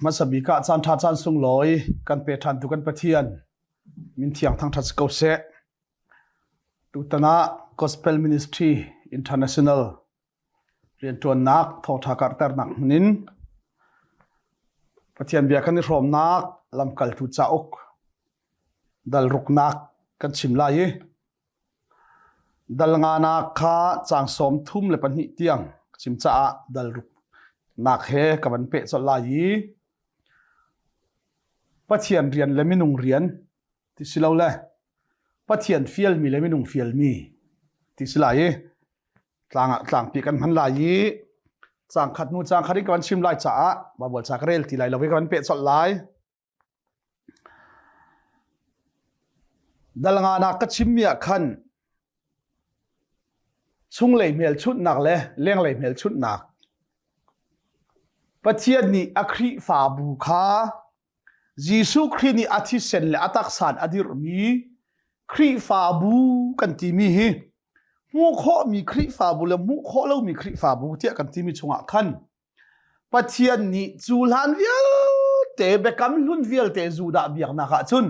Hmasabik ah caan ṭha caan sunglawi kan pe ṭhan tu kan Pathian min thiang thangṭhat si ko seh. Tutan ah Gospel Ministry International rianṭuannak thawṭha karhternak hmunin Pathian bia kan i hrawmnak lamkaltu cauk dalruknak kan chim lai i Dal nganak kha caang sawm thum le pahnih tiang ka chim caah dal ruknak he ka van peh colh lai i Pathian rian le minung rian ti si lo le Pathian fialmi le minung fialmi ti si lai i tlang ah tlangpi kan hman lai i caang khat hnu caang khat i ka van chim lai caah mah bual ca ka rel ti lai lo i ka van peh colh lai. Dalnganak ka chimmi ah khan chunglei hmelchunhnak le lenglei hmelchunhnak Pathian nih a Khrihfabu kha Jesuh Khrih nih a thisen le a taksan a dirhmi Khrihfabu kan timi hi hmuh khawhmi Khrihfabu le hmuh khawh lomi Khrihfabu tiah kan timi chungah khan Pathian nih cu hlan vialte biakam hlun vialte Judah biaknak ah cun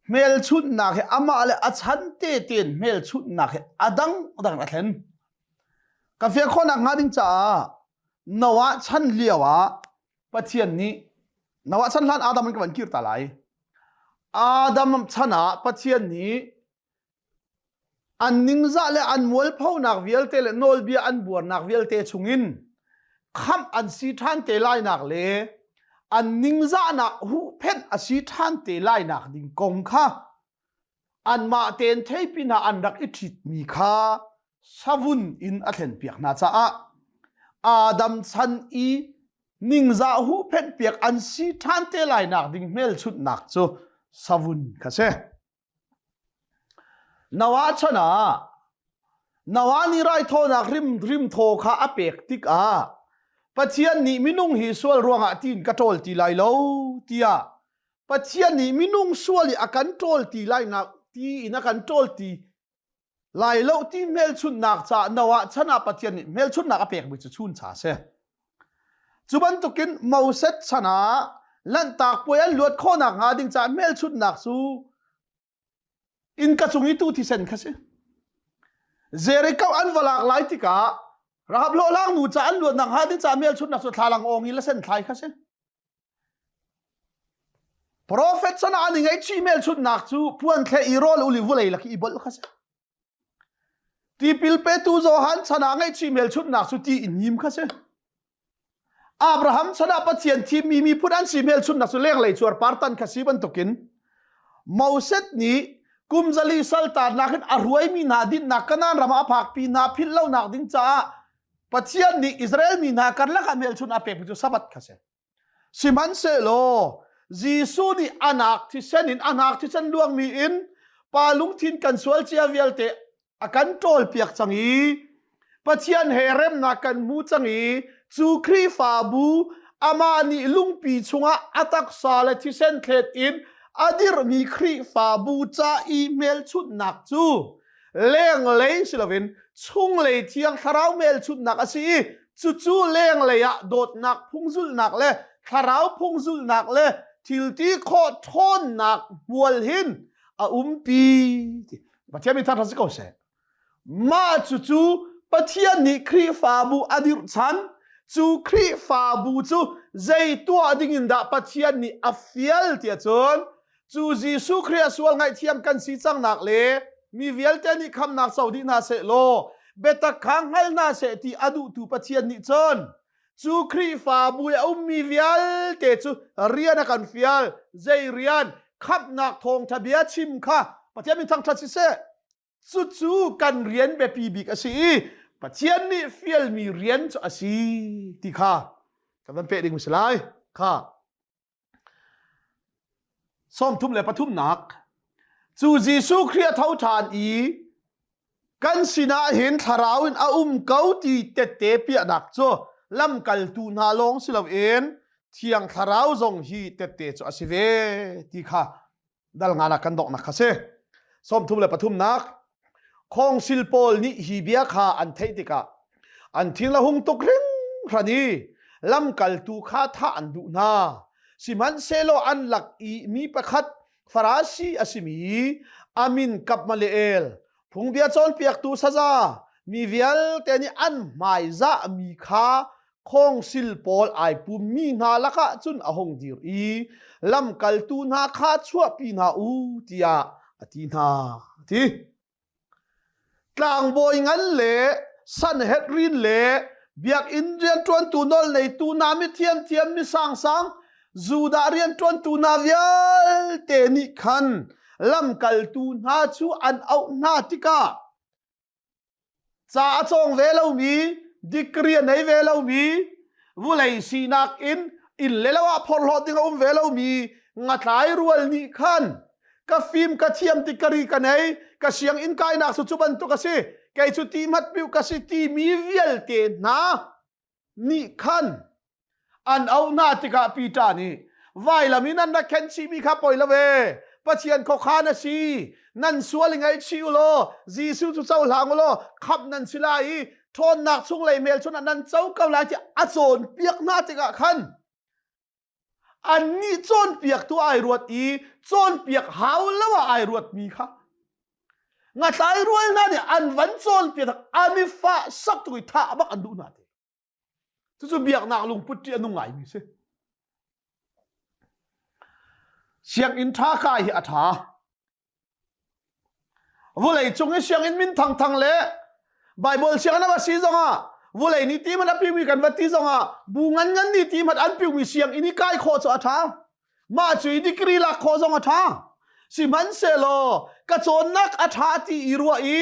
hmelchunhnak hi amah le a chan tete in hmelchunhnak hi a dangdang a thlen. Ka fial khawhnak hnga ding caah Noah chan lio ah Pathian nih Noah chan hlan Adam an ka van kir ta lai. Adam chan ah Pathian nih an ningzah le an mualphonak vialte le nawlbia an buarnak vialte chungin khamh an si ṭhan te lainak le an ningzahnak huhphenh a si ṭhan te lainak ding kong kha anmah tein theipin ah an rak i ṭhitmi kha savun in a thlenpiak hna caah Adam chan i ningzah huhphenh piak an si ṭhan te lainak ding hmelchunhnak cu savun kha si. Na wa chan ah na wa nih raithawinak rim rimthaw kha a pek tikah Pathian nih minung hi sual ruangah tiin ka ṭawl ti lai lo tiah Pathian nih minung sual i a kan ṭawl ti lai nak ti in a kan ṭawl ti lai lo ti hmelchunhnak ca no ah chan ah Pathian nih hmelchunhnak a pekmi cu chun cha si cu bantukin Moses chan ah lanhtak puai an luat khawhnak hnga ding caah hmelchunhnak cu inn ka cung i tu thisen kha si Jericho an va lak lai tikah Rahab hlawhlang nu ca an luatnak hnga ding caah hmelchunhnak cu thlalang ong i lasen thlai kha si Profet san an i ngei chih melchunhnak cu puan thleh i rawl uli vulei lak i bolh kha si. Tipil petu Johan san ah ngei chih melchunhnak cu ti in him kha si. Abraham san ah Pathian thimmi mi phun an si melchunhnak cu lenglei cuar partan kha si bantukin Moses nih kumzali saltannak in a ruaimi hna dinnak Kanan ram ah a phakpi hna philh lonak ding caah Pathian nih Israel mi hna karlak ah hmelchunh a pek mi cu Sabbath kha si. Sihmanhsehlaw Jesuh nih anak thisen in anak thisen luangmi in pa lungthin kan sual cia vialte a kan ṭawlpiak cang i Pathian he remnak kan hmu cang i cu Khrihfabu amah nih lungpi chungah a taksa le thisen thlet in a dirhmi Khrihfabu ca i hmelchunhnak cu lenglei si loin chunglei thiang thlarau hmelchunhnak a si i cucu lenglei ah dawtnak phungzulhnak le thlarau phungzulhnak le thilti khawh ṭhawnnak hmual hin a umpi ti Pathian mi thar si ko seh mah cucu Pathian nih Khrihfabu a dirh chan cu Khrihfabu cu zei tuah ding in dah Pathian nih a fial ti ahcun cu Jesuh Khrih a sual ngaihthiam kan si cangnak le mi vialte nih khamnak so dih hna seh law biatak kha hngal hna seh ti a duhtu Pathian nih cun cu Khrihfabu i a ummi vialte cu rian a kan fial zei rian khamhnak thawngṭha bia chim kha Pathian min thangṭhat siseh cucu kan rian biapi bik a si i Pathian nih fialmi rian cu a si ti kha ka van peh ding si lai kha sawm thum le pathumnak cu Jesuh Khrih a tho ṭhan i kan sinah hin thlarau in a um ko ti tette piahnak cu lamkaltu hna lawng si loin thiang thlarau zong hi tette cu a si ve ti kha dal nganak kan doknak kha si sawmthum le pathumnak khongsil pawl nih hi bia kha an theih tikah an thil a hung tuk hringhran i lamkaltu kha thah an duh hna sihmanhsehlaw an lak i mi pakhat farasi a simi amin kapmaleel phungbia cawnpiaktu saza mi vialte nih an hmaizah mi kha khawngsil pawl ai pummi hna lakah cun a hung dir i lamkaltu hna kha chuahpi hna u tiah a ti hna a ti tlangbawi ngan le sanhedrin le biakinn rianṭuantu nawlneitu hna mithiam thiam mi sangsang Judah rianṭuantu hna vialte nih khan lamkaltu hna cu an auh hna tikah ca a cawng ve lomi degree a nei ve lomi vulei sinak in inn le lo ah phorhlawt ding a um ve lomi ngatlai rual nih khan ka fim ka thiam ti kari ka nei ka sianginn kainak su cu bantuk a si kei cu ti mat piu ka si timi vialte hna nih khan an auh hna tikah Peter nih vailam in an rak khen chihmi kha poi lo e Pathian khuakhan a si nan sual i ngaihchih u law Jesuh cu cohlang u law khamh nan si lai i ṭhawnnak chunglei hmelchunh ah nan co ko lai ti a cawnpiak hna tikah khan annih cawnpiaktu ai ruat i cawnpiak hau lo ah ai ruatmi kha ngathlai rual hna nih an van cawnpiak tak an i fah sak tuk i thah bak an duh hna te cucu biaknak lungput ṭi a nung ngaimi si sianginn ṭha kai hi a ṭha Vuleicung i sianginn min thangthang le Bible sianginn a va si zongah vulei ni ti mat a piumi kan vat ti zongah bu ngan ngan ni ti mat an piumi sianginn i kai khaw cu a ṭha mah cu i degree lak khaw zong a ṭha sihmanhsehlaw ka cawnnak a ṭha ti i ruah i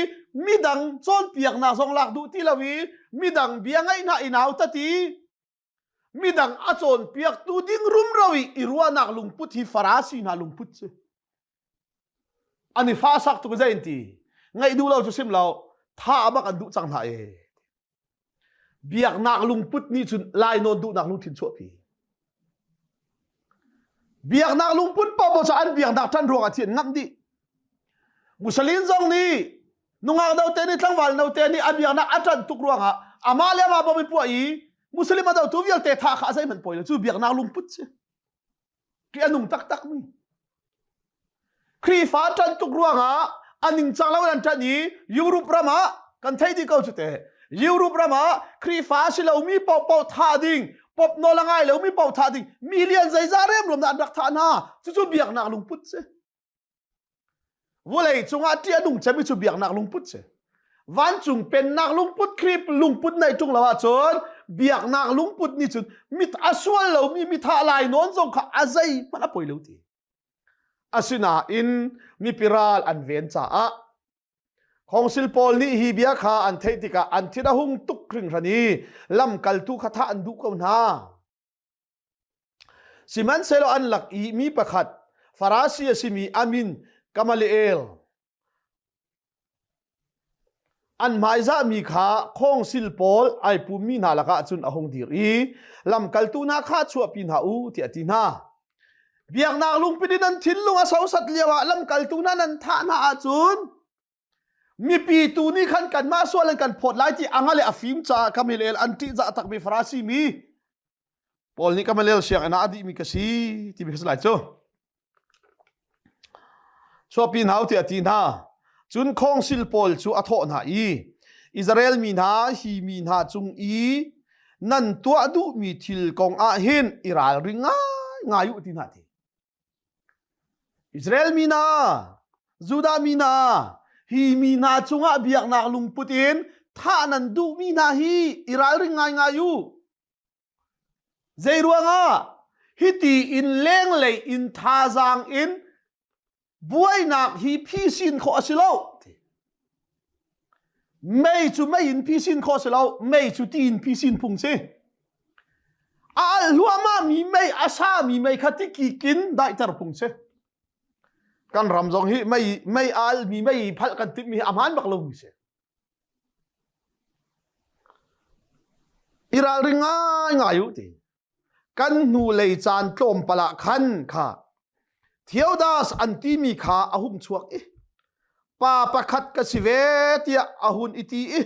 midang cawnpiaknak zong lak duh ti lo i midang bia ngaih hna i nau ta ti midang a cawnpiaktu ding rumro i i ruahnak lungput hi farasi hna lungput cu an i fa sak tuk zein ti ngaih duh lo cu sim lo tha abak an duh cang hna e biaknak lungput nih cun lai nawn duhnak lungthin chuahpi biaknak lungput pa bo an biaknak tan ruang a thian ngam dih Musalin zong nih nungak note nih tlangval note nih a biaknak a ṭan tuk ruangah amah le amah bawm i puah i Muslim a dotu vialte tha kha a zeihmanh poi lo cu biaknak lungput si. Ṭih a nung taktak mi. Khrihfa ṭan tuk ruangah a ningcang lo in an ṭan i Europe ram ah kan thei dih ko cu te. Europe ram ah Khrihfa si lomi pohpoh tha ding, pop nawl a ngai lomi pop tha ding, million zeizah remruam dah an rak thah hna. Cucu biaknak lungput si. Vawlei cungah ṭih a nung cemmi cu biaknak lungput si. Vancung pennak lungput, Khrip lungput nei ṭung lo ahcun biaknak lungput nih cun mit a sual lomi mithah lainawn zong kha a zei hmanh a poi lo ti. Asinain mipi ral an ven caah Khongsil pawl nih hi bia kha an theih tikah an thin a hung tuk hringhran i lamkaltu kha thah an duh ko hna. Sihmanhsehlaw an lak i mi pakhat Farasi a simi Amin Gamaliel an hmaizahmi kha khawngsil pawl ai pummi hna lakah cun a hung dir i lamkaltu hna kha chuahpi hna u tiah a ti hna. Biaknak lungpil in an thinlung a sosat lioah lamkaltu hna nan thah hna ahcun mipi tu nih khan kanmah sual in kan phawt lai ti anga le a fim caah kamilel an ṭih za takmi farasi mi paul nih kamilel sianginn ah a dihmi ka si ti mi ka si lai cu chuapi hna u tiah ti hna cun khawngsil pawl cu a thawh hna i Israel mi hna hi mi hna cung i nan tuah duhmi thil kong ah hin i ralring ngai ngai u ti hna ti Israel mi hna, Judah mi hna, hi mi hna cungah biaknak lungput in thah nan duhmi hna hi i ralring ngaingai u. Zeiruangah? Hiti in lenglei in thazaang in buainak hi phisin khawh a si lo. Mei cu mei in phisin khawh si lo, mei cu ti in phisin phung si. A alh hluahmahmi mei, a sami mei kha tikik in daihter phung si. Kan ram zong hi mei, mei a alhmi, mei phalh kan timhmi hi a hmaan bak lomi si. I ralring ngai ngai u ti. kan hnulei caan tlawmpal ah khan kha Theodas an timi kha a hung chuak i pa pakhat ka si ve tiah a hun i ti i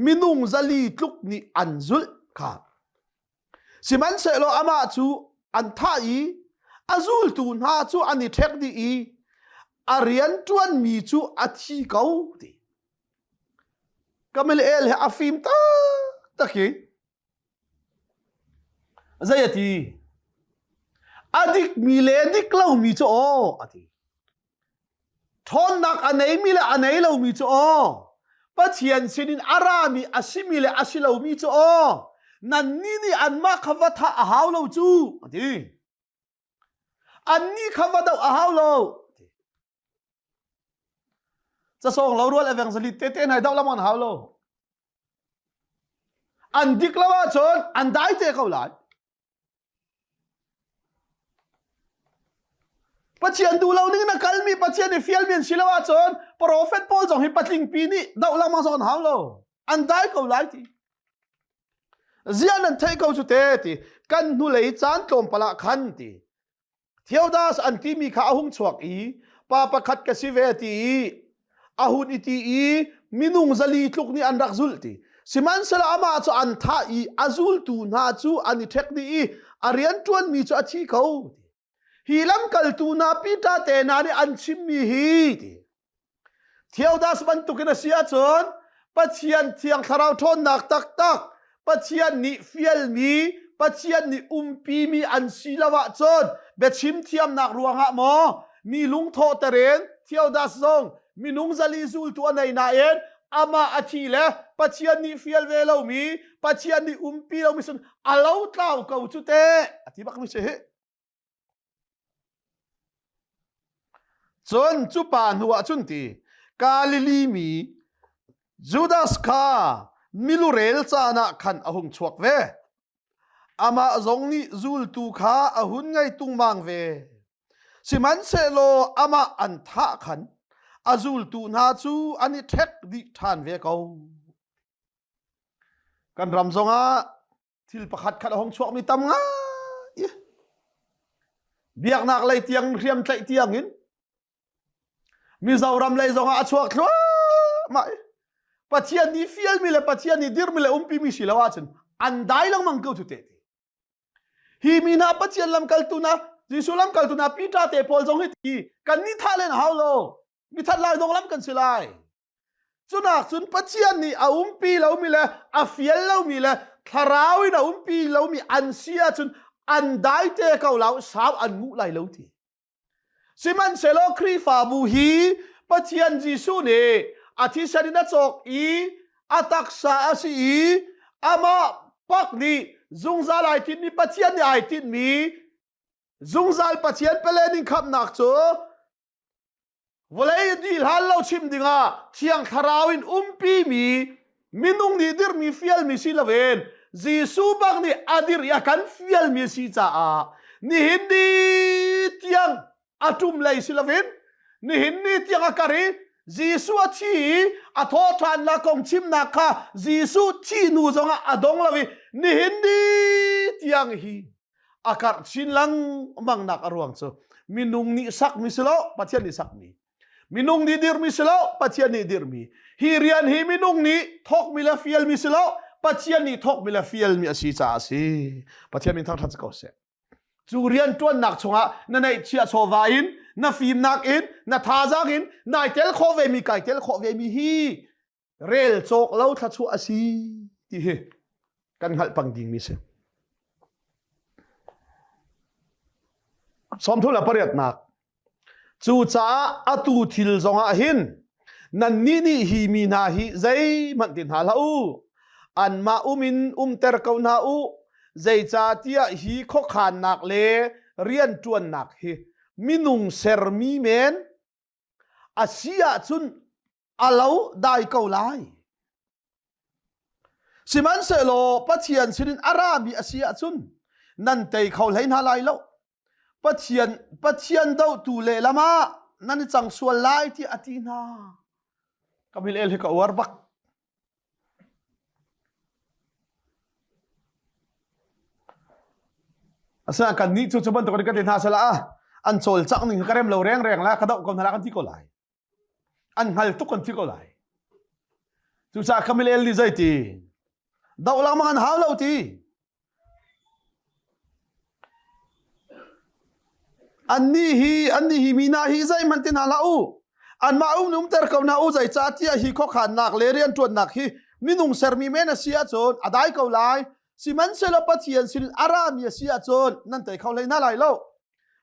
minung zali tluk nih an zulh kha sihmanhsehlaw amah cu an thah i a zultu hna cu an i ṭhek dih i a rian ṭuanmi cu a thi ko ti Gamaliel he a fim taktak i Zei a ti? A dikmi le dik lomi cu aw a ti. Ṭhawnnak a neimi le a nei lomi cu aw, Pathian sinin a rami a simi le a si lomi cu aw, nannih nih anmah kha va thah a hau lo cu, a ti. Annih kha va doh a hau lo. Casawng lo rual evangelist tete nai doh lamon hau lo. An dik lo ahcun an dai te ko lai. Pathian duh lo ning na kalmi Pathian i fial min si lo ahcun prophet Paul zong hi patlingpi nih doh lamang zawn hau lo. An dai ko lai ti. zia nan theih ko cu te ti kan hnulei caan tlawmpal ah khan ti Theodas an timi kha a hung chuak i pa pakhat ka si ve ti i a hun i ti i minung zali tluk nih an rak zulh ti sihmanhsela amah cu an thah i a zultu hna cu an i ṭhek dih i a rian ṭuanmi cu a thi ko hi lamkaltu hna Peter te hna nih an chimmi hi ti Theodas bantukin a si ahcun Pathian thiang thlarau ṭhawnnak taktak Pathian nih fialmi Pathian nih umpimi an si lo ahcun biachim thiamnak ruangah maw mi lungthawh teren Theodas zong minung zali zultu a nei nain amah a thi le Pathian nih fial ve lomi Pathian nih umpi lomi sun a lo tlau ko cu teh a ti bak mi si cun cu pa hnu ah cun ti Galilee mi Judas kha milurel caan ah khan a hung chuak ve amah zong nih zultu kha a hun ngei tungmang ve sihmanhsehlaw amah an thah khan a zultu hna cu an i ṭhek dih ṭhan ve ko Kan ram zongah thil pakhat khat a hong chuakmi tam ngai. Biaknak lei tiang, hriam tlaih tiangin Mizoram lei zongah a chuak thluahmah. Pathian nih fialmi le Pathian nih dirmi le umpimi si lo ahcun an dai lengmang ko tu te. Hi mi hna Pathian lamkaltu na Jesuh lamkaltu na Peter te pawl zong hi ti kan ni thah len a hau lo. Mi that lai dong lam kan si lai. Cunahcun Pathian nih a umpi lomi le a fial lomi le thlarau in a umpi lomi an si ahcun an dai te ko lo sau an nguh lai lo ti. Sihmanhsehlaw Khrihfabu hi Pathian Jesuh nih a thisen in a cawk i a taksa a si i amah pak nih zungzal ai tinhmi Pathian nih ai tinhmi zungzal Pathian pelening khamnak cu Vawlei a dih hlan lo chim dingah thiang thlarau in umpimi minung nih dirhmi fialmi si loin Jesuh bak nih a dirh i a kan fialmi a si caah nihin ni tiang a ṭum lei si loin nihin ni tiang a kar i Jesuh a thi i a thawhṭhannak kong chimnak kha Jesuh thih hnu zongah a dong lo i nihin ni tiang hi a karh chin lengmangnak a ruang cu minung nih sakmi si lo pathian nih sakmi minung nih dirmi si lo pathian nih dirmi hi rian hi minung nih thawkmi le fialmi si lo pathian nih thawkmi le fialmi a si caah a si pathian min thangṭhat si ko seh cu rian ṭuannak chungah na neihchia chawva in na fimnak in na thazang in nai tel khawh vemi kai tel khawh vemi hi rel cawk lo thluachuah a si ti hi kan hngalh pang ding mi si sawmthul a pariatnak cu caah atu thil zongah hin nannih nih hi mi hna hi zeihmanh ti hna hlah u anmah umin umter ko hna u zeicatiah hi khuakhannak le rianṭuannak hi minung sermi men a si ahcun a lo dai ko lai sihmanhsehlaw pathian sinin a rami a si ahcun nan tei kho hlei hna lai lo pathian pathian dohtu lehlam ah nan i cang sual lai ti a ti hna ka mil el hi ka uar bak Asa kannih cu cu bantukin ka ti hna salah an cawlcangh ning ka rem lo rengreng la ka doh ko hna kan ti ko lai an hngal tuk kan ti ko lai cucaah kamil el ni zei ti doh lang ma kan hau lo ti Annih hi annih hi mi hna hi zeihmanh ti hna hlah u. Anmah um umter ko hna u zeicahtiah hi khuakhannak le rianṭuannak hi minung sermi men a si ahcun a dai ko lai. Sihmanhsehlaw Pathian sin a rami a si ahcun nan tei kho hlei hna lai lo.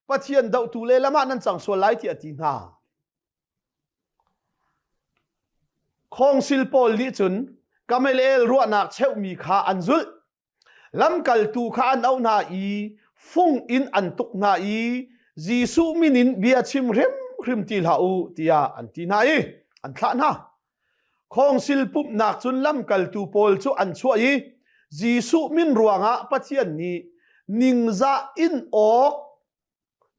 Pathian dohtu lehlam ah nan cang sual lai tiah a ti hna. Khawngsil pawl nih cun kamelel ruahnak cheuhmi kha an zulh. Lamkaltu kha an auh hna i fung in an tuk hna i Jesuh min in bia chim hrimhrim ti hlah u tiah an ti hna i an thlah hna. Khawngsil pumhnak cun lamkaltu pawl cu an chuah i Jesuh min ruangah Pathian nih ningzah in awk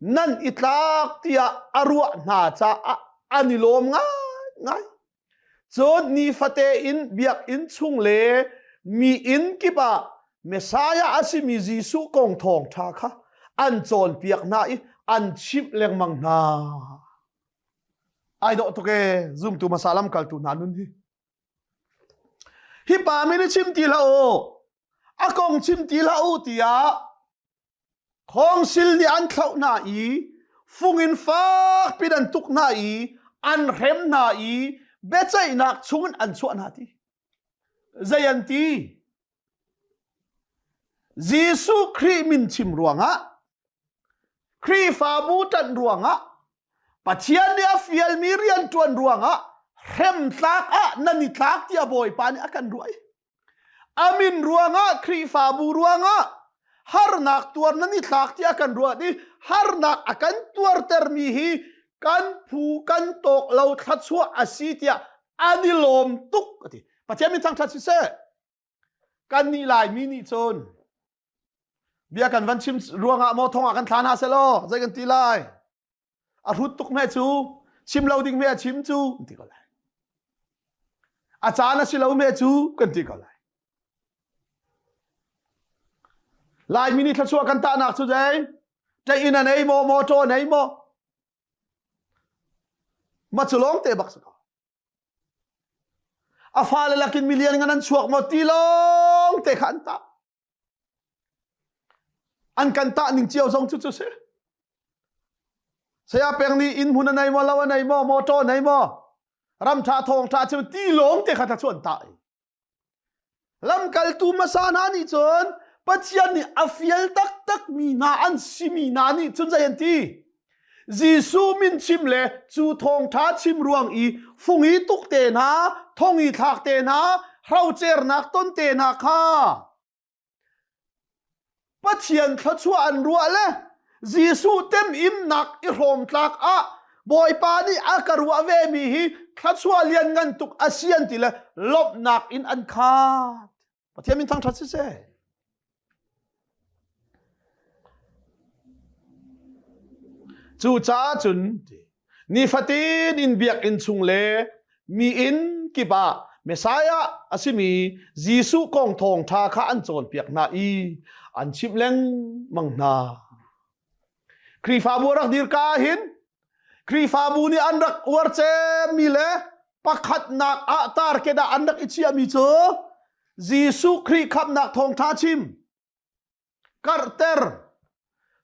nan i tlak tiah a ruah hna caah an i lawm ngaingai cun nifate in biakinn chung le mi inn kip ah Messiah a simi Jesuh kong thawng ṭha kha an cawnpiak hna i an chimh lengmang hna ai dawh tuk e zumtu hmasa lam kaltu hna nun hi hi pa min i chim ti hlah u a kong chim ti hlah u tiah Khawngsil nih an thlauh hna i fung in fakpi in an tuk hna i an hrem hna i biaceihnak chungin an chuah hna ti. Zei an ti? Jesuh Khrih min chim ruangah, Khrihfabu ṭanh ruangah, Pathian nih a fialmi rianṭuan ruangah hremtlak ah nan i tlak tiah Bawipa nih a kan ruah i a min ruangah Khrihfabu ruangah harnak tuar nan i thlak tiah kan ruat i harnak a kan tuartermi hi kan phu kan tawk lo thluachuah a si tiah an i lawm tuk a ti pathian min thangṭhat si seh kan nih laimi nih cun bia kan van chim ruangah maw thongah kan thlan ha selaw zei kan ti lai a hrut tuk me cu chim lo ding me a chim cu kan ti ko lai a caan a si lo me cu kan ti ko lai lai mini thlachua kan tahnak cu dei tain a nei maw motor nei maw ma cu lawng te bak sa ko a fa le lakin million ngan an chuak mo ti lawng te kha an tah an kan tah ning cio zong cu cu si saya peng nih inn hmun a nei maw lo a nei maw motor nei maw ram tha thawng tha cu ti lawng te kha ta chu an tah lamkaltu hmasa hna nih cun pathian nih a fial taktak mi hna an si mi hna nih cun zei an ti Jesuh min chim le cu thawngtha chim ruang i fungi tuk te hna, thongi thlak te hna, hrocernak ton te hna kha Pathian thluachuah an ruah le Jesuh tem imnak i hrawm tlak ah Bawipa nih a ka ruah ve mi hi thluachuah lian ngan tuk a si an ti le lomhnak in an khat. Pathian min thangṭhat siseh. Cucaah cun nifatin in biakinn chung le mi inn kip ah Messiah a simi Jesuh kong thawng ṭha kha an cawnpiak hna i an chimh lengmang hna. Khrihfabu rak dirka ah hin Khrihfabu nih an rak uar cemmi le pakhatnak ah tar kedah an rak i chiahmi cu Jesuh Khrih khamnak thawngṭha chim karhter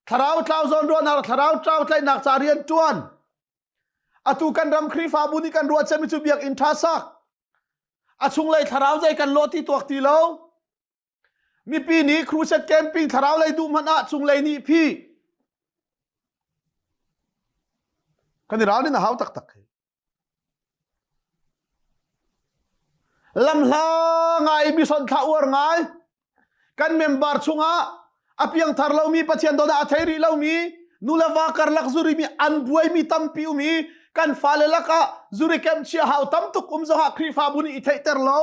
thlarau tlau zawnruahnak thlarau tlau tlaihnak ca rian ṭuan atu kan ram Khrihfabu nih kan ruah cemmi cu biakinn ṭha sak a chunglei thlarau zei kan law ti tuak ti lo Mipi nih crusade camping thlarau lei duh hmanh ah cunglei nih phi kan i ralrin a hau taktak hi. Lamhla ngai mi sonh thla uar ngai kan member chungah a piangthar lomi Pathian dawt ah a thei rih lomi nu le va karlak zuri mi an buai mi tampi um i kan fale lakah zuri kem chia hau tam tuk um zohah Khrihfabu nih i theihter lo.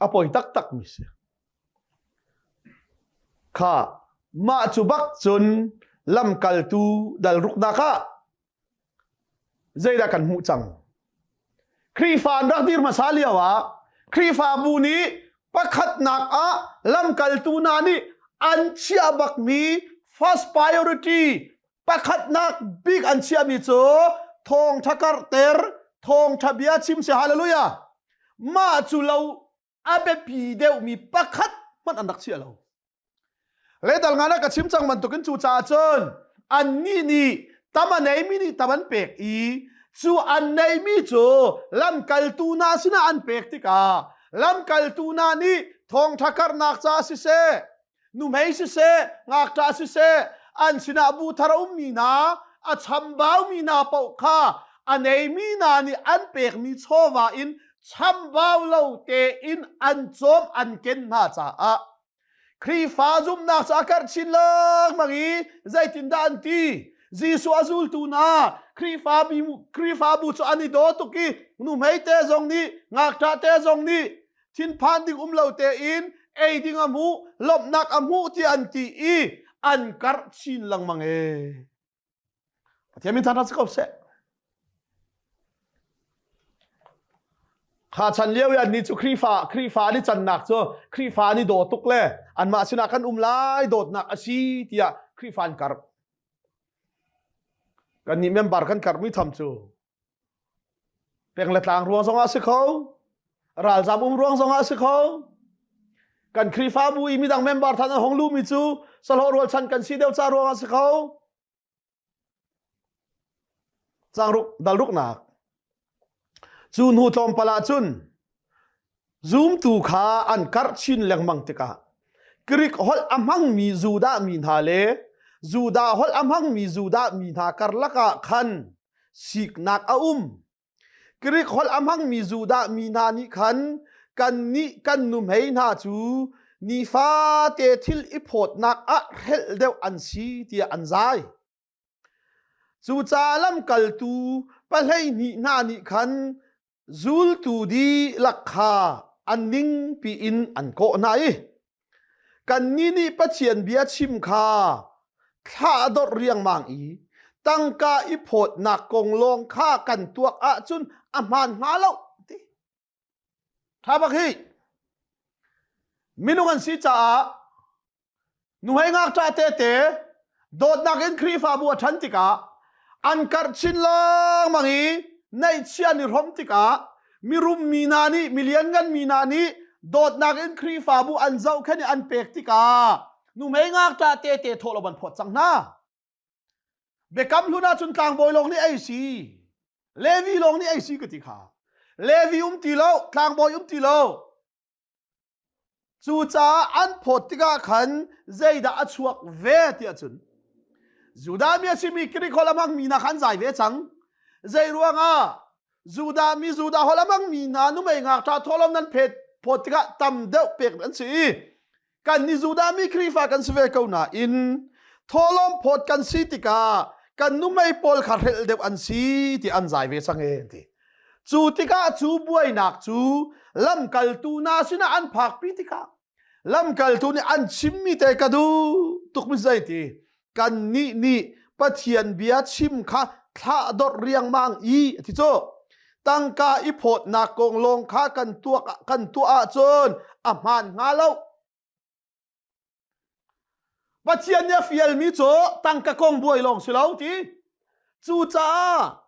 A poi taktakmi si. Kha mah cu bak cun lamkaltu dalruknak ah zeidah kan hmuh cang? Khrihfa an rak dir hmasa lio ah Khrihfabu nih pakhatnak ah lamkaltu hna nih an chiah bakmi first priority pakhatnak bik an chiahmi cu thawngtha karter thawngtha bia chim si hallelujah mah cu lo a biapi deuhmi pakhat hmanh an rak chia lo letal ngana ka chim cang bantukin cu ca cun anni nih tam a neimi nih tam an pek i cu an neimi cu lamkaltu na sinah an pek tikah lamkaltu na nih thawngtha karnak ca siseh nuhmei siseh ngakṭah siseh an sinah bu thar a ummi hna a chambaumi hna paoh kha a neimi hna nih an pekmi chawva in chambau lo tein an cawm an ken hna caah Khrihfa zumhnak cu a karh chin lengmang i zeitindah an ti Jesuh a zultu hna Khrihfa Khrihfabu cu an i daw tuk i nuhmei te zong nih ngakṭah te zong nih thinphan ding um lo tein ei ding a hmuh lawmhnak a hmuh tiah an ti i an karh chin lengmang e pathian min thangthat si ko seh kha chan lio i annih cu Khrihfa Khrihfa ni cannak cu Khrihfa ni daw tuk le anmah sinah kan um lai dawtnak a si tiah Khrihfa an karh kannih member kan karhmi tham cu Peng le tlang ruang zong ah si kho. Ralzam um ruang zong ah si kho. Kan Khrihfabu i midang member than an hong lu mi cu salo rual chan kan si deuh ca ruang ah si kho. Cang ruk dal ruk nak. Cu hnu tlawmpal ah cun Zumtu kha an karh chin lengmang tikah Greek holh a hmangmi Judah mi hna le Judah holh a hmangmi Judah mi hna karlak ah khan siknak a um. Greek holh a hmangmi Judah mi hna nih khan kannih kan nuhmei hna cu nifate thil i phawtnak ah hrelh deuh an si tiah an zai. Cucaah lamkaltu pahleihnih hna nih khan zultu dihlak kha an ningpi in an kawh hna i kannih nih Pathian bia chim kha thlah riangmang i tangka i phawtnak kong lawng kha kan tuak ahcun a hmaan hnga lo, ti. Tha bak hi minung an si caah nuhei ngakṭah tete dawtnak in Khrihfabu a ṭhan tikah an karh chin lengmang i neihchia an i hrom tikah mirum mi hna nih mi lianngan mi hna nih dawtnak in Khrihfabu an zohkhenh i an pek tikah nuhmei ngakṭah tete thawh lo an phawt cang hna. Biakam hlun ah cun tlangbawi lawng nih ei si, Levi lawng nih ei si ka ti kha. Levi um ti lo, tlangbawi um ti lo. Cucaah an phawt tikah khan zeidah a chuak ve tiah cun Judah mi a simi Greek holh a hmangmi hna khan zai ve cang. Zei ruangah Judah mi Judah holh a hmangmi hna numei ngakṭah thawhlawm nan phet phawt tikah tam deuh pek an si i kan ni Judah mi Khrihfa kan si ve ko nain tholom phawt kan si tikah kan numei pawl kha hrel deuh an si ti an zai ve sang e ti cu tikah cu buainak cu lamkaltu na sinah an phak pi tikah lamkaltu nih an chimmi te ka duh tuk mi zei ti kannih nih Pathian bia chim kha thladorh riangmang i a ti cu tangka i phawtnak kong lawng kha kan tuak kan tuah ahcun a hmaan hnga lo Pathian nih a fialmi cu tangka kong buai lawng si lo ti cucaah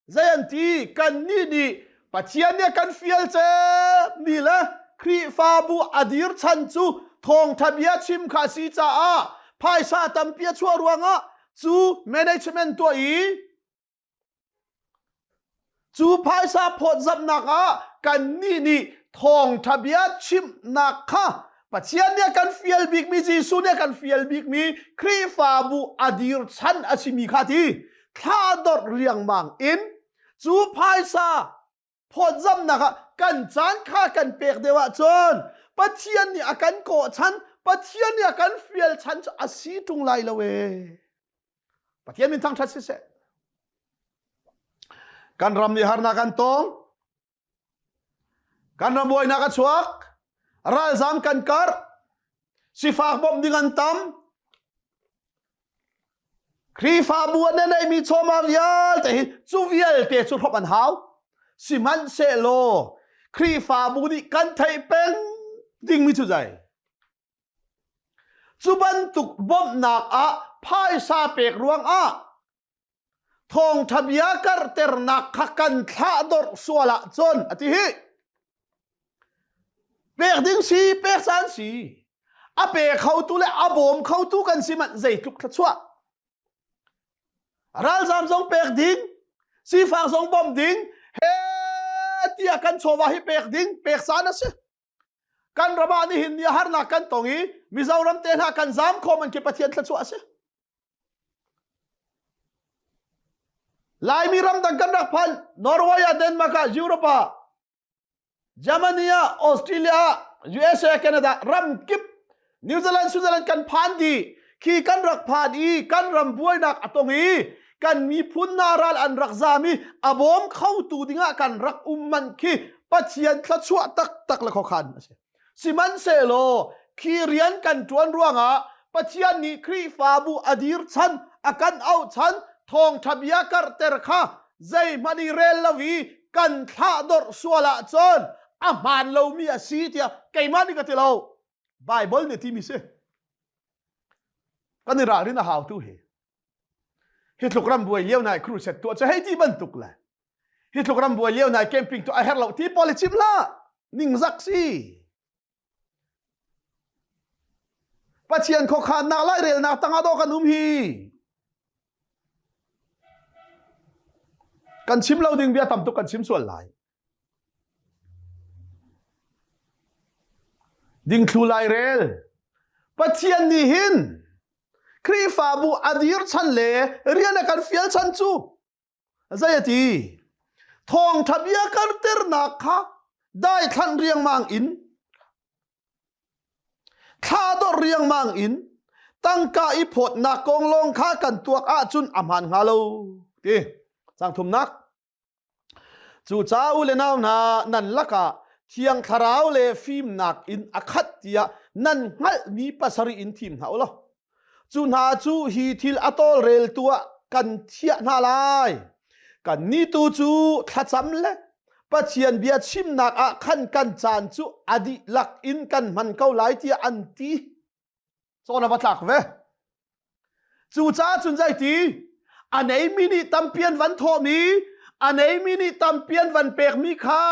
Zei an ti kannih nih Pathian nih kan fial cep ni le Khrihfabu a dir chan cu thawngtha bia chim kha a si caah phaisa tampi a chuah ruangah cu management tuah i cu phaisa phawtzamhnak ah kannih nih thawngtha bia chimhnak kha Pathian nih kan fial bikmi Jesuh nih kan fial bikmi Khrihfabu a dir chan a simi kha ti thladorh liangmang in cu phaisa phawtzamnak ah kan caan kha kan pek deuh ahcun Pathian nih a kan kawh chan Pathian nih a kan fial chan cu a si ṭung lai lo ee. Pathian min thangṭhat siseh. Kan ram nih harnak an tong. Kan ram buainak a chuak. Ralzam kan karh. Sifak bawmh ding an tam. Khrihfabu an nei mi chawmang vialte hi cu vialte cu hrop an hau. Sihmanhsehlaw Khrihfabu nih kan theih peng dingmi cu zai. Cu bantuk bawmhnak ah phaisa pek ruang ah Thawngṭha bia karhternak kha kan thlahdorh sual ahcun a ti hi pek ding si pek san si a pe khotu le a bawm khotu kan si manh zeitluk thluachuah ralzam zong pek ding sifak zong bawm ding he tiah kan chawva hi pek ding pek san a si kan ram ah nihin ni harnak kan tong i Mizoram te hna kan zam khawm an ke Pathian thluachuah a si Laimi ramdang kan rak phal Norway ah Denmark ah Europe ah Germany ah Australia ah USA Canada ram kip New Zealand Switzerland kan phan dih khi kan rak phan i kan ram buainak a tong i kan miphun hna ral an rak zam i a bawm khotu dingah kan rak um man khi Pathian thluachuah taktak le khokhan a si sihmanhsehlaw khi rian kan ṭuan ruangah Pathian nih Khrihfabu a dir chan a kan auh chan thawngṭha bia karhter kha zeihmanh i rel lo i kan thlah dawrh sual ahcun a hmaan lomi a si tiah keimah nih ka ti lo. Bible nih timi si kan i ralrin a hau tu hi hi tluk ram buai lio nai crusade tuah cha hei ti bantuk le hi tluk ram buai lio nai camping tu a herh lo ti policim la ningzak si pathian khokhan nak lai rel nak tanga do kan um hi kan chim lo ding bia tam tuk kan chim sual lai Dingthlu lairel Pathian nih hin Khrihfabu a dir chan le rian a kan fial chan cu zei a ti thawngtha bia karternak kha daithlanh riangmang in thla dawr riangmang in tangka i phawtnak kong lawng kha kan tuak ahcun a hmaan hnga lo ti sang thumnak Cu ca u le nau hna nan lakah Thiang Thlarau le fimnak in a khat tiah nan hngalhmi pasarih in thim hna u law cu hna cu hi thil a tawlrel tu ah kan thiah hna lai. Kan ni tu cu thlacam le Pathian bia chimnak ah khan kan caan cu a dihlak in kan hman ko lai tiah an ti. Cawn a va tlak ve. Cucaah cun zei ti? A neimi nih tampian van thawhmi, a neimi nih tampian van pekmi kha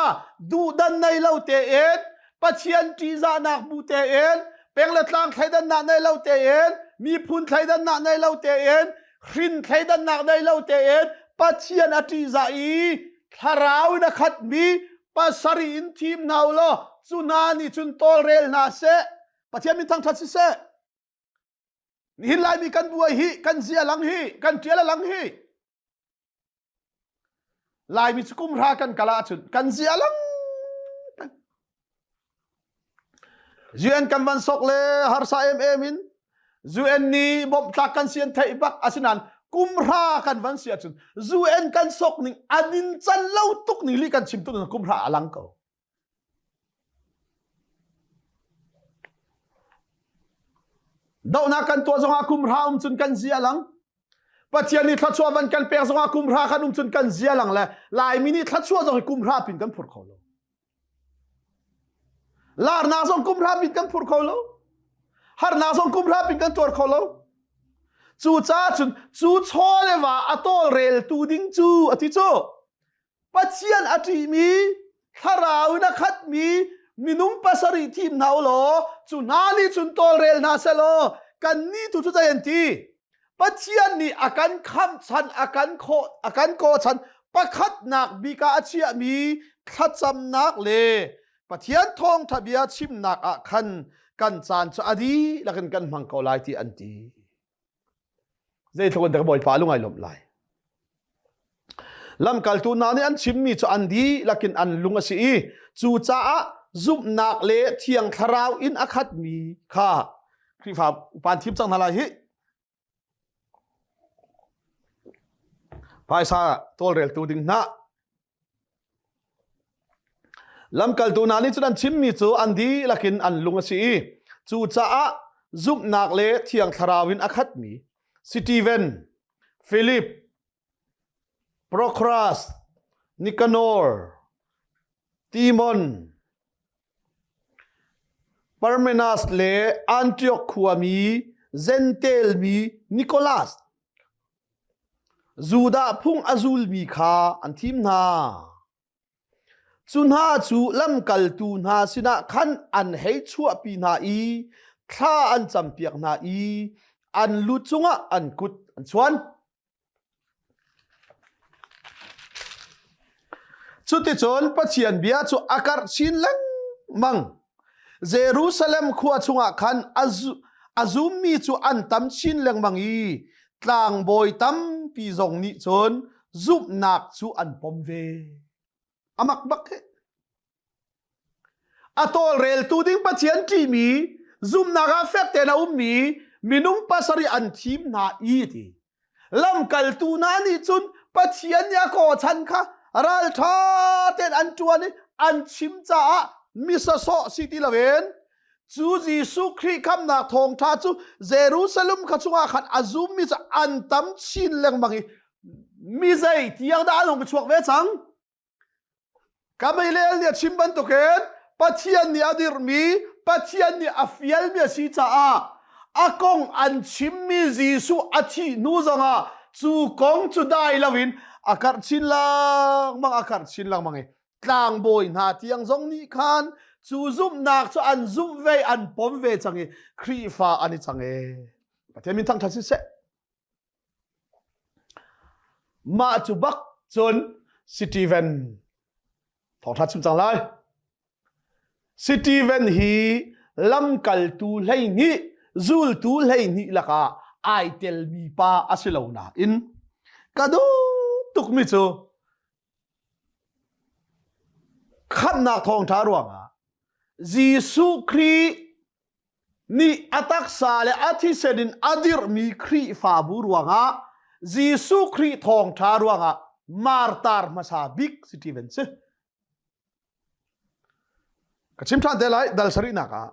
duhdan nei lo tein, Pathian ṭihzahnak bu tein, peng le tlang thleidannak nei lo tein, miphun thleidannak nei lo tein, hrin thleidannak nei lo tein, Pathian a ṭihzah i thlarau in a khatmi pasari in thim hna u law cu hna nih cun tawlrel hna seh. Pathian min thangthat siseh nihin laimi kan buai hi kan zia lang hi kan tial lang hi laimi cu kum hra kan kala chun kan zia lang UN kan van sok le harsa em em in UN ni bom tlak kan sian thei bak asinan kumhra kan van sia chun UN kan sok ning anin chan lo tuk ni li kan chim tu na kumhra alang ko Dohnak kan tuah zongah kumhra um cun kan zia lang. Pathian nih thluachuah van kan pek zongah kumhra kan um cun kan zia lang le Laimi nih thluachuah zong hi kumhra pin kan phur kho lo. Larnak zong kumhra pin kan phur kho lo. Harnak zong kumhra pin kan tuar kho lo. Cu ca cun cu chaw le wa a tawlrel tu ding cu a ti cu Pathian a ṭihmi, thlarau in a khatmi minung pasarih thim hna u law cu hna nih cun tawlrel hna seh law kannih tu cu zei an ti? Pathian nih a kan khamh chan, a kan khawh, a kan kaw chan pakhatnak bik ah a chiahmi thlacamnak le Pathian thawngṭha bia chimnak ah khan kan caan cu a dihlak in kan hmang ko lai ti an ti. Zeitluk in dah Bawipa lung ai lawmh lai. Lamkaltu hna nih an chimmi cu an dihlak in an lung a si i cu caah zumhnak le thiang thlarau in a khatmi kha Khrihfa upa thim cang hna lai hi. Phaisa tawlreltu ding hna Lamkaltu hna nih cun an chimmi cu an dihlak in an lung a si i cucaah zumhnak le thiang thlarau in a khatmi Steven, Philip, Procras, Nikanor, Timon, Parmenas le Antioch khuami Zentel mi Nicholas Judah phung a zulmi kha an thim hna. Cu hna cu lamkaltu hna sinah khan an hei chuahpi hna i thla an campiak hna i an lu cungah an kut an chuan. Cuticun Pathian bia cu a karh chin lengmang. Jerusalem khua chungah khan a zummi cu an tam chin lengmang i tlangbawi tampi zong nih cun zumhnak cu an pom ve. A mak bak he. A tawlreltu ding Pathian ṭimi zumhnak ah fek tein a ummi minung pasarih an thim hna i ti. lamkaltu hna nih cun pathian nih a kawchan kha ralṭha tein an ṭuan i an chim caah misasawh si ti loin cu Jesuh Khrih khamnak thawngṭha cu Jerusalem kha chungah khan a zummi cu an tam chin lengmang i mi zei tiang dah an hung chuak ve cang? Ka meilel nih a chim bantukin Pathian nih a dirhmi, Pathian nih a fialmi a si caah a kong an chimmi Jesuh a thih hnu zongah cu kong cu dai loin a karh chin lengmang, a karh chin lengmang i tlangbawi hna tiang zong nih khan cu zumhnak cu an zumh ve, an pom ve cang i Khrihfa an i cang ee. Pathian min thangṭhat si seh. Mah cu bak cun Steven thawngṭha chim cang lai. Steven hi lamkaltu hleihnih, zultu hleihnih lakah ai telmi pa a si lo nain ka duh tukmi cu khamhnak thawngṭha ruangah Jesuh Khrih nih a taksa le a thisen in a dirhmi Khrihfabu ruangah Jesuh Khrih thawngṭha ruangah martar hmasa bik si ti van si. Ka chim ṭhan te lai dal sarihnak ah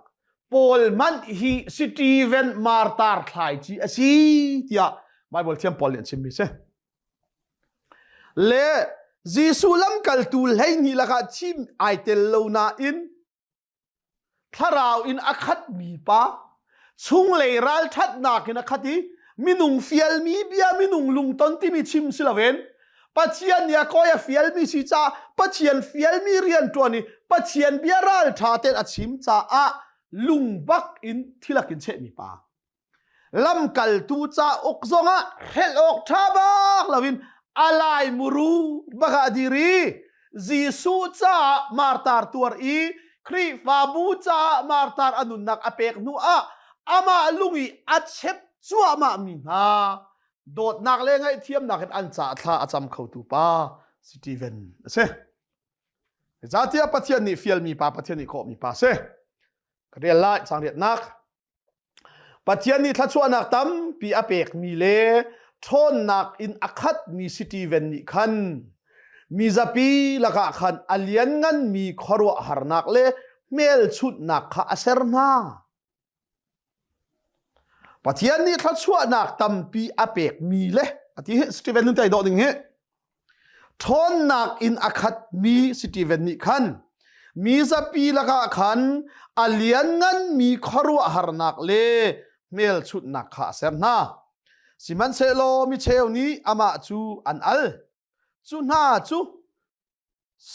Paul man hi Steven martar thlai ci a si tiah Bible thiam Paul nih an chimmi si. Le Jesuh lamkaltu hleihnih lakah thim ai tel lo nain thlarau in a khatmi pa chunglei ralṭhatnak in a khat i minung fialmi bia minung lungton timi chim si loin pathian nih a koi a fialmi si ca pathian fialmi rianṭuan i pathian bia ralṭha ten a chim caah lungbak in thilakin chehmi pa lamkaltu cauk zongah hrelh awk ṭha bak loin a lai muru baka diri Jesuh caah martar tuar i Khrihfabu caah martar anunnak a pek hnu ah amah lung i a chep cuahmah mi hna dawtnak le ngaihthiamnak in an caah thla a cam khotu pa Steven a si. Zatiah Pathian nih fial mi pa Pathian nih khawh mi pa si. Ka rial lai cang riatnak Pathian nih thluachuahnak tampi a pekmi le ṭhawnnak in a khatmi Steven nih khan mi zapi lakah khan a liannganmi khuaruahharnak le hmelchunhnak kha a ser hna. Pathian nih thluachuahnak tampi a pekmi le a ti hi Steven nun tei dawh ding hi ṭhawnnak in a khatmi Steven nih khan mi zapi lakah khan a liannganmi khuaruahharnak le hmelchunhnak kha a ser hna. Sihmanhsehlaw micheu nih amah cu an al. Cu hna cu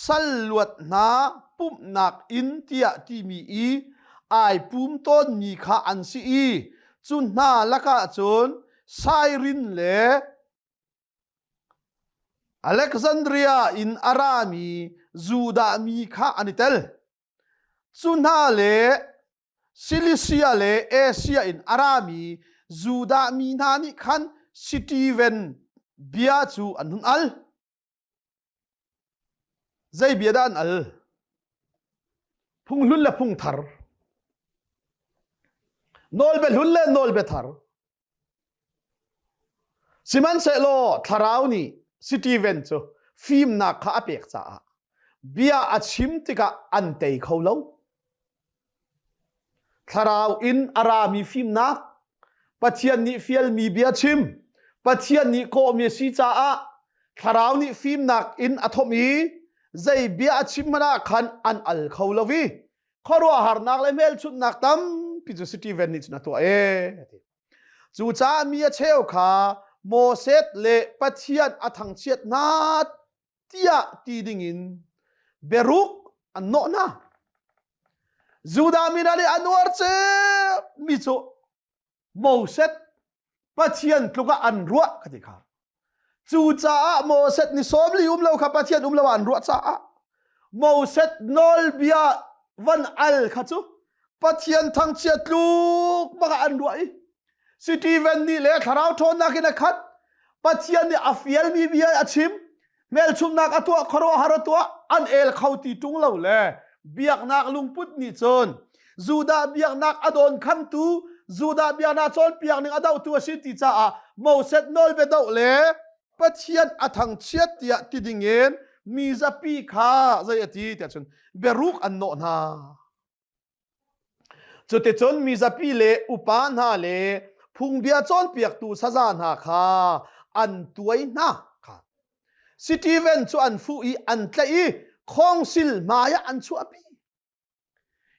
sal luat hna pumhnak in tiah timi i ai pum tawnmi kha an si i cu hna lakah cun Sairin le Alexandria in a rami Judah mi kha an i tel. Cu hna le Silisia le Asia in a rami Judah mi hna nih khan Sitiven bia cu an hun al. Zei bia dah an al? Phunghlun le phungthar. Nawlbe hlun le nawlbe thar. Sihmanhsehlaw thlarau nih Steven cu fimnak kha a pek caah bia a chim tikah an tei kho lo. Thlarau in a rami fimnak, Pathian nih fialmi bia chim, Pathian nih kawhmi a si caah thlarau nih fimnak in a thawm i zei bia a chim hmanh ah khan an al kho lo i khuaruahharnak le hmelchunhnak tampi cu Steven nih cun a tuah e. Cucaah mi a cheu kha Moses le Pathian a thangchiat hna tiah ti dingin beruk an nawh hna Judah mi hna nih an uar cu mi cu Moses Pathian tluk ah an ruah ka ti kha cu caah Moses ni som li um lo kha Pathian um lo an ruah caah Moses nawlbia van al kha cu Pathian thangchia tluk baka an ruah i Stephen nih le thlarau ṭhawnnak in a khat Pathian nih a fialmi bia a chim hmelchumnak a tuah khuaruah har a tuah an el kho ti ṭung lo le biaknak lungput nih cun Judah biaknak a dawn khangtu Judah biaknak cawnpiak ning a dohtu a si ti caah Moses nawlbia doh le Pathian a thangchiat tiah ti dingin mi zapi kha zei a ti tiah cun biaruk an nawh hna. Cuticun mizapi le upa hna le phungbia cawnpiaktu saza hna kha an tuai hna kha Stephen cu an fuh i an tlaih i khongsil hmaiah an chuahpi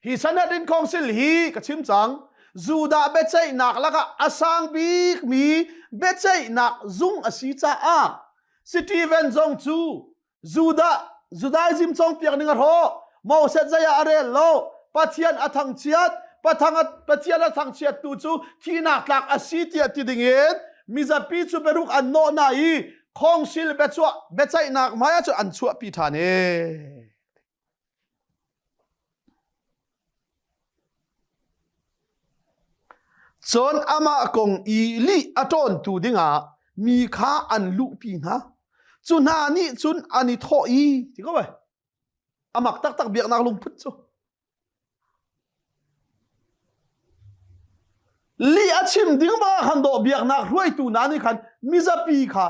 hi Sanhedrin khongsil hi ka chim cang Judah biaceihnak lakah a sang bikmi biaceihnak zung a si caah Stephen zong cu Judah Judaism congpiak ning a hrawh Moses zai ah a rel lo Pathian a thangchiat Pathang Pathian a thangchiat tu cu thihnak tlak a si tiah ti ding in mizapi cu beruk an nawh na i khongsil bechuah becaihnak hmai ah cun an chuahpi ṭhan e Cun amah kong i lih a ṭawntu dingah mi kha an luhpi hna. Cu hna nih cun an i thawh i, ti ko ai, a mak taktak biaknak lungput cu. Lih a chim ding bang han doh biaknak hruaitu hna nih khan mizapi kha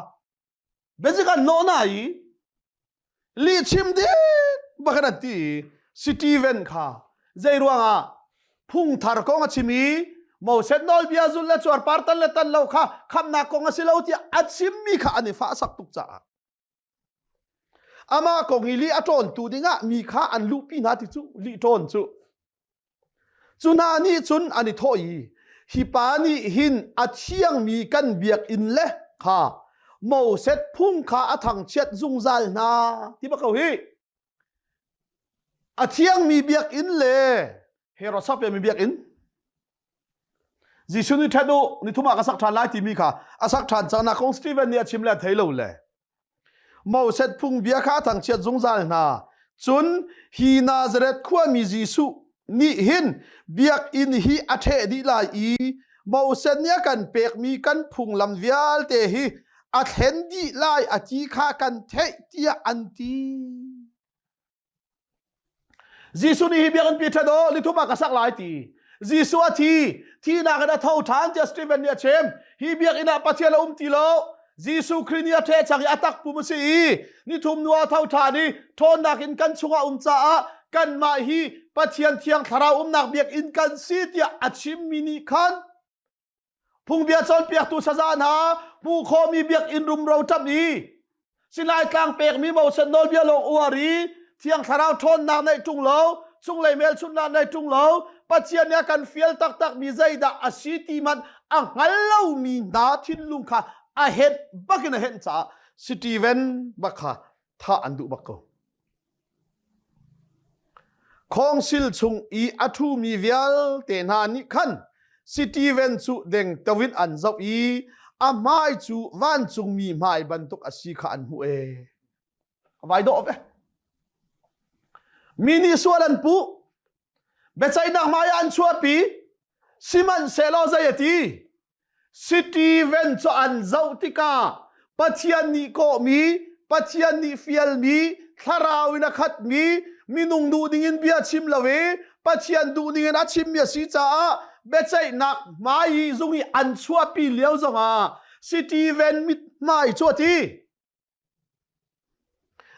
Beji kan no na i lihchim dik bakan ati i Steven kha zei ruangah phungthar kong a chim i Moses nawlbia zul le cuar par tan le tan lo kha khamnak kong a si lo tiah a chimmi kha an i fahsak tuk caah amah kong i li a ṭawntu dingah mi kha an luhpi hna ti cu li ṭawn cu Cu hna nih cun an i thawh i, hi pa nih hin a thiangmi kan biakinn le kha Moses phung kha a thangchiat zungzal hna ti va ko hi. A thiangmi biakinn le Herod sapiami biakinn Jesuh nih ṭhat u nithum ah ka sak ṭhan lai timi kha a sak ṭhan cangnak kong Stephen nih a chim le a thei lo le Moset phungbia kha a thangchiat zungzal hna cun hi Nazareth khuami Jesuh nih hin biakinn hi a ṭheh dih lai i Moset nih a kan pekmi kan phunglam vialte hi a thlen dih lai a ti kha kan theih tiah an ti. Jesuh nih hi biakinn pi ṭhat aw nithum ah ka sak lai ti Jesuh a thi thihnak in a tho ṭhan tiah Stephen nih a chim hi biakinn ah Pathian a um ti lo Jesuh Khrih nih a ṭhe chang i a tak pum a si i nithum nu a tho ṭhan i ṭhawnnak in kan chungah um caah kanmah hi Pathian Thiang Thlarau umnak biakinn kan si tiah a chimmi nih khan Phungbia cawnpiaktu saza hna hmu khomi biakinn rumro ṭam i Silai tlang pekmi mosen nawlbia lawng uar i thiang thlarau ṭhawnnak neih ṭung lo chunglei hmelchunhnak neih ṭung lo Pathian nih a kan fial taktakmi zeidah a si ti hmanh a hngal lomi hna thinlung kha a henh bakin a henh caah Stephen bak kha thah an duh bak ko. Khawngsil chung i a ṭhumi vialte hna nih khan Sitiven cu dengteo in an zoh i a hmai cu vancungmi hmai bantuk a si kha an hmuh ee. A vai dawh ve. Mi nih sual an puh. Biaceihnak hmai ah an chuahpi. Sihmanhsehlaw zei a ti? Stephen cu an zoh tikah Pathian nih kawhmi, Pathian nih fialmi, thlarau in a khatmi, minung duh dingin bia chim lo i Pathian duh dingin a chimmi a si caah biaceihnak hmai i zung i an chuahpi lio zongah Stephen mit hmai cu a ti.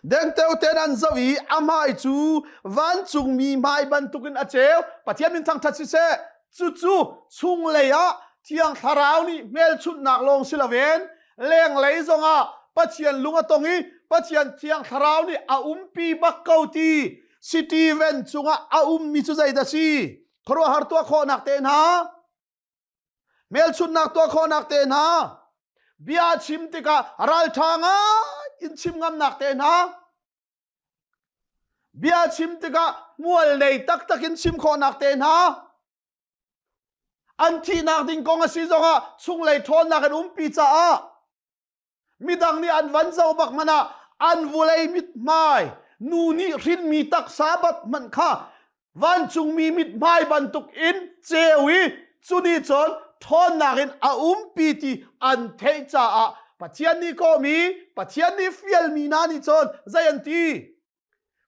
Dengteo ten an zoh i a hmai cu vancungmi hmai bantukin a ceu. Pathian min thangṭhat siseh, cucu chunglei ah Thiang Thlarau nih hmelchunhnak lawng si loin lenglei zongah Pathian lung a tong i Pathian Thiang Thlarau nih a umpi bak ko ti Stephen cungah a ummi cu zeidah si? Khuaruahhar tuah khawhnak tehna. Hmelchunhnak tuah khawhnak te hna, bia chim tikah ralṭha ngai in chim ngamnak te hna, bia chim tikah mual nei taktak in chim khawhnak te hna, an thihnak ding kong a si zongah chunglei ṭhawnnak in umpi caah midang nih an van zo bak hmanh ah an vulei mithmai nu nih hrinmi taksa bat hmanh kha vancungmi mithmai bantuk in ceu i cuni cun ṭhawnnak in a umpi ti an theih caah Pathian nih kawmi Pathian nih fialmi hna nih cun zei an ti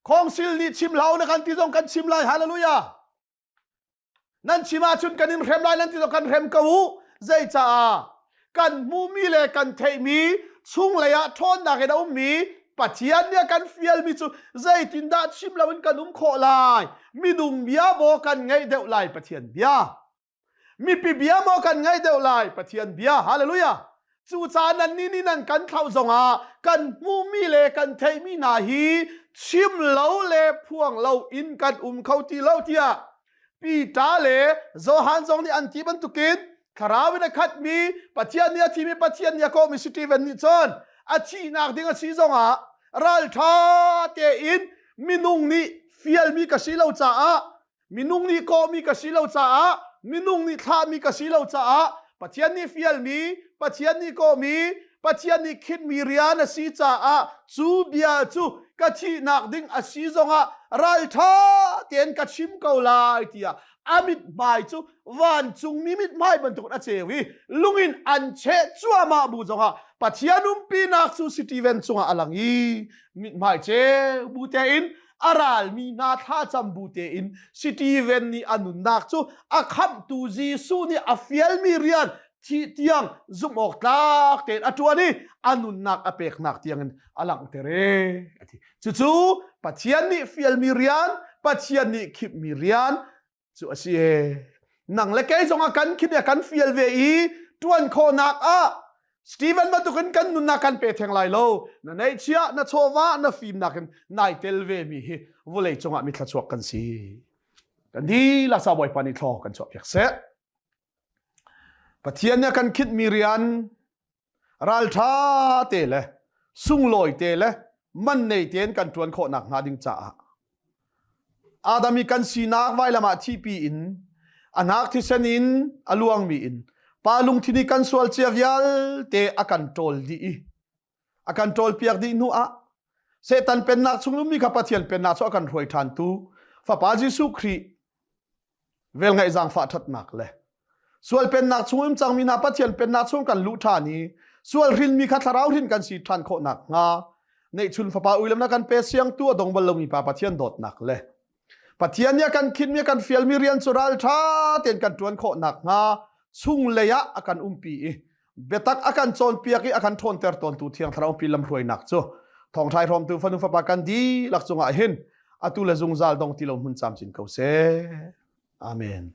khongsil nih chim hlah na kan ti zong kan chim lai hallelujah nan chim ahcun kan in hrem lai nan ti lo kan hrem ko u zeicaah kan hmumi le kan theihmi chunglei ah ṭhawnnak in a ummi Pathian nih a kan fialmi cu zeitindah chim loin kan um khawh lai minung bia maw kan ngaih deuh lai Pathian bia mipi bia maw kan ngaih deuh lai Pathian bia hallelujah Cucaah nannih nih nan kan thlauh zongah kan hmuhmi le kan theihmi hna hi chim lo le phuang lo in kan um kho ti lo tiah Peter le Johan zong nih an ti bantukin thlarau in a khatmi Pathian nih a thimi Pathian nih a kawhmi Stephen nih cun a thihnak ding a si zongah ralṭha tein minung nih fialmi ka si lo caah minung nih kawhmi ka si lo caah minung nih thlahmi ka si lo caah Pathian nih fialmi Pathian nih kawhmi Pathian nih khitmi rian a si caah cu bia cu ka thihnak ding a si zongah ralṭha tein ka chim ko lai tiah a mithmai cu vancungmi mithmai bantuk a ceu i lungin an cheh cuahmah bu zongah Pathian umpinak cu Stephen cungah a lang i mithmai ceu bu tein a ralmi hna thlacam bu tein Stephen nih a nunnak cu a khamhtu Jesuh nih a fialmi rian thih tiang zumhawk tlak tein a ṭuan i a nunnak a peknak tiangin a langhter e. Cucu Pathian nih fialmi rian, Pathian nih khipmi rian, cu a si e nang le kei zongah kan khip kan fial ve i tuan khawhnak ah Stephen bantukin kan nunnak kan pe theng lai lo na neihchiah na chawva na fim nakin nai tel ve mi hi vulei cungah mi thlachuak kan si kan ni la sa bawipa ni thlo kan chuah piak seh Pathian nih a kan khinh mi rian ralṭha te le sunglawi te le man nei tein kan ṭuan khawh nakhnga ding caah Adam i kan sinak vailam ah thihpi in a hnak thisen in a luangmi in pa lungthin i kan sual cia vialte a kan ṭawl dih i a kan ṭawlpiak dih hnu ah Satan pennak chungum mi kha Pathian pennak cu a kan hruai ṭhantu fapa Jesuh Khrih vel ngaih zaangfah ṭhatnak le sual pennak chungum cangmi hna Pathian pennak chung kan luh ṭhan i sual hrin mi kha thlarau hrin kan si ṭhan khawh nakhnga neihchun fapa uilam na kan pe siang tu a dong bal lomi pa Pathian dawtnak le Pathian nih a kan khinmi a kan fialmi rian cu ralṭha tein kan ṭuan khawh nakhnga chunglei ah a kan umpi i biatak a kan cawnpiak i a kan ṭhawnter tawntu thiang thlaraupi lamhruainak cu thawngṭhai hrawmtu fanu fapa kan dihlak cungah hin atu le zungzal dong ti lo hmun camcin ko seh. Amen.